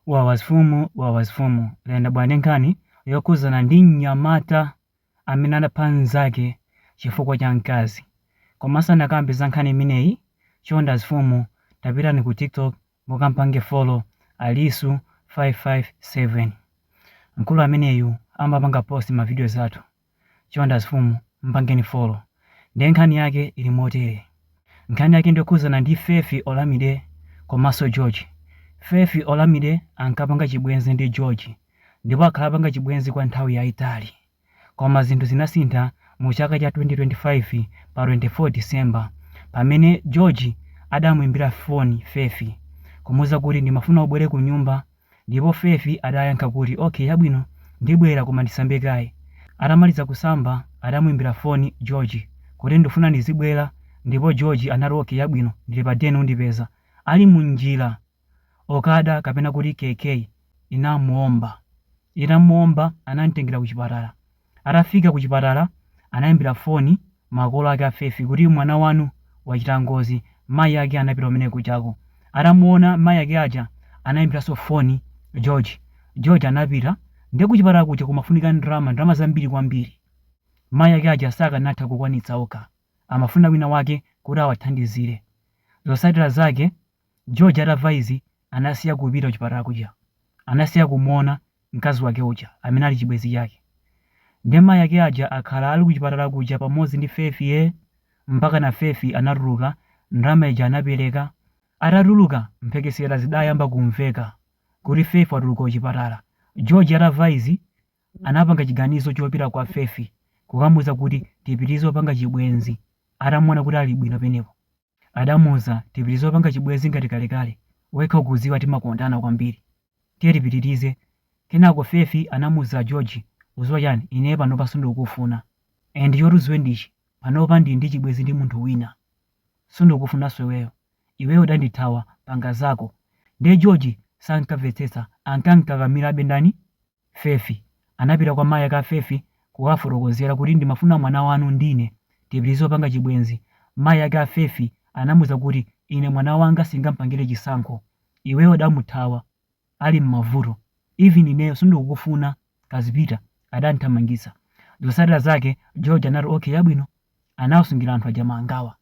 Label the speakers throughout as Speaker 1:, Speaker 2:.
Speaker 1: Wawa azifumu wawa azifumu lero ndabwera ndi nkhani yokhuzana ndi mnyamata amene anapha mzake chifukwa cha mkazi koma ndisanakambe za nkhani imeneyi chonde azifumu tapitani ku tiktok mukampange follow alisu 557 mkulu ameneyu amapanga post ma videos athu Chonde azifumu mpangeni follow nde nkhani yake ili motere nkhani yake ndiyokhudzana ndi Fefi Olamide komanso George Fefi Olamide ankapanga chibwenzi ndi George ndipo akhala akupanga chibwenzi kwa nthawi yaitali koma zinthu zinasintha mu chaka cha 2025 pa 24 December pamene George adamuimbira phone Fefi kumuuza kuti ndimafuna ubwere kunyumba Ndipo Fefi adayankha kuti, Okay yabwino, ndibwera koma ndisambe kaye. Atamaliza kusamba adamuimbira foni George kuti ndifuna ndizibwera ndipo George anati okay yabwino ndili pa den undipeza. Ali mu njira Okada kapena kuti keke inamuomba. Itamuomba anamutengera ku chipatala. Atafika kuchipatala, anaimbira foni makolo ake a Fefi kuti mwana wanu wachita ngozi, mayi ake anapita kumene kujako. Atamuona mayi ake aja, anaimbiranso foni George. George anapita. Ndiye kuchipatala kuja kumafunika ndalama, ndalama zambiri kwambiri. Mayi ake aja sakanatha kukwanitsa okha. Amafuna wina wake kuti awathandizire. Zotsatira zake George atamva izi anasiya kupita kuchipatala kuja. Anasiya kumuona mkazi wake uja amene ali chibwenzi chake. Nde mayi ake aja akhala ali kuchipatala kuja pamodzi ndi Fefi ee! Mpakana Fefi anatuluka, ndalama ija anapereka. Atatuluka, mphekesera zidayamba kumveka kuti Fefi watuluka kuchipatala. George atamva izi anapanga chiganizo chopita kwa Fefi kukamuuza kuti tipitirize kupanga chibwenzi atamuona kuti ali bwino peneko. Adamuuza, Tipitilize kupanga chibwezi ngati kalekale, wekha ukuziwa timakondana kwambiri. Tiye tipitilize. Kenako Fefi anamuuza George, Uziwa chani, ine panopa sundikukufuna. And choti uziwe ndichi, panopa ndili ndi chibwezi ndi munthu wina. Sundikukufunanso iweyo. Iweyo udandithawa, panga zako. Ndiye George sankavetsetsa, ankankakamirabe ndani? Fefi. Anapita kwa mayi ake a Fefi kukawafotokozera kuti ndimafuna mwana wanu ndine, tipitirize kupanga chibwenzi. Mayi ake a Fefi anamuuza kuti ine mwana wanga singamupangire chisankho. Iweyo udamuthawa ali mmavuto. Even ineyo sindikukufuna, kazipita, adamthamangitsa. Zotsatira zake George anati okay yabwino. anawasungira anthu aja mangawa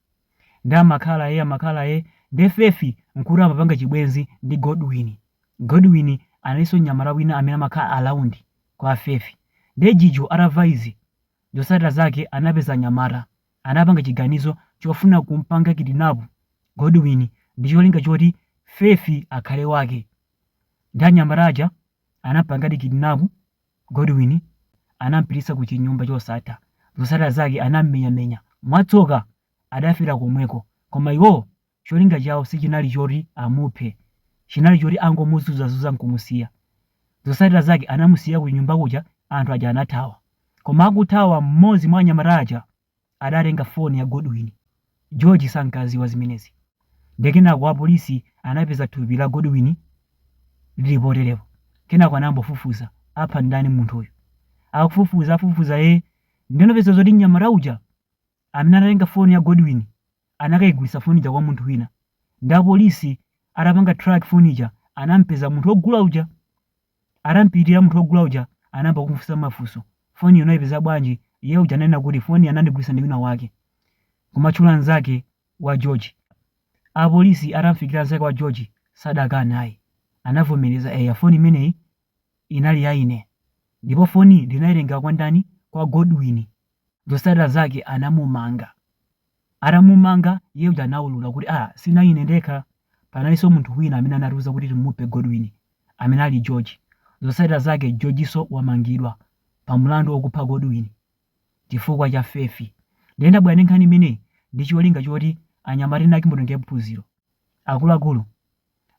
Speaker 1: ndi amakhala e amakhala e ndi fefi nkuti amapanga chibwenzi ndi godwin godwin analinso nyamata wina amene amakhala ku Rand kwa fefi ndi George atamva izi zosatira zake anapeza nyamata anapanga chiganizo chofuna kumpanga kidnap godwin ndi cholinga choti fefi akhale wake ndi anyamata aja anapangadi kidnap Godwin anampititsa ku chinyumba chosatha. Zotsatira zake anammenyamenya. Mwatsoka, adafera komweko. Koma iwowo cholinga chawo sichinali choti amuphe. Chinali choti angomuzunzazunza nkumusiya. Zotsatira zake anamusiya ku chinyumba kuja anthu aja anathawa. Koma akuthawa mmodzi mwa anyamata aja adatenga foni ya Godwin. George sankadziwa zimenezi. Nde kenako apolisi anapeza thupi la Godwin lili poterepo. Kenako anayamba kufufuza. Apha ndani munthuyu? Akufufuza, afufuza ee. Nde anapeza zoti mnyamata uja amene anatenga foni ya Godwin anakayigulitsa foni ija kwa munthu wina. Nde apolisi atapanga track foni ija anamupeza munthu wogula uja. Atampitira munthu wogula uja anayamba kumufunsa mafunso. Foniyi unaipeza bwanji? Iye uja ananena kuti foniyi anandigulitsa ndi wina wake, kumatchula mnzake wa George. Apolisi atamfikira mnzake wa George sadakane ayi. Anavomereza, eya foni imeneyi inali ya ine ndipo foniyi ndinaitenga kwa ndani? Kwa Godwin. Zotsatira zake anamumanga. Atamumanga, iye uja anaulula kuti, ah, sinali ine ndekha. Panalinso munthu wina amene anatiuza kuti timuphe Godwin, amene ali George. Zotsatira zake Georgenso wamangidwa pa mlandu wokupha Godwin chifukwa cha fefi. Ndiye ndabwera ndi nkhani imeneyi ndi cholinga choti anyamata ena ake mutengepo phunziro. Akuluakulu,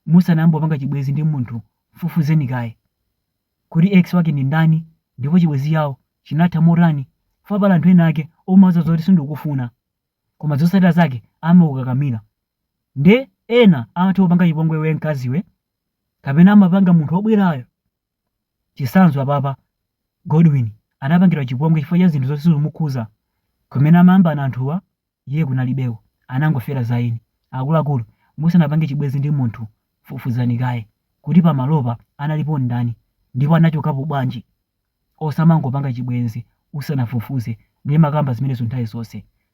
Speaker 1: musanayambe kupanga chibwenzi ndi munthu, mfufuzeni kaye. Kodi ex wake ndi ndani ndipo chibwezi chawo chinatha motani? Fukwa pali anthu ena ake umawauza zoti sundikufuna koma zotsatira zake amakukakamira. Nde ena amatha kupanga chipongwe iwe mkaziwe kapena amapanga munthu obwerayo. Chitsanzo apapa Godwin anapangidwa chipongwe chifukwa cha zinthu zoti sizikumukhudza kumene amayambana anthuwa Iye kunalibeko, anangofera za eni. Akuluakulu, musanapange chibwenzi ndi munthu, fufuzani kaye kuti pamalopa analipo ndani ndipo anachokapo bwanji. Osamangopanga chibwenzi usanafufuze, ndimakamba zimenezo nthawi zonse.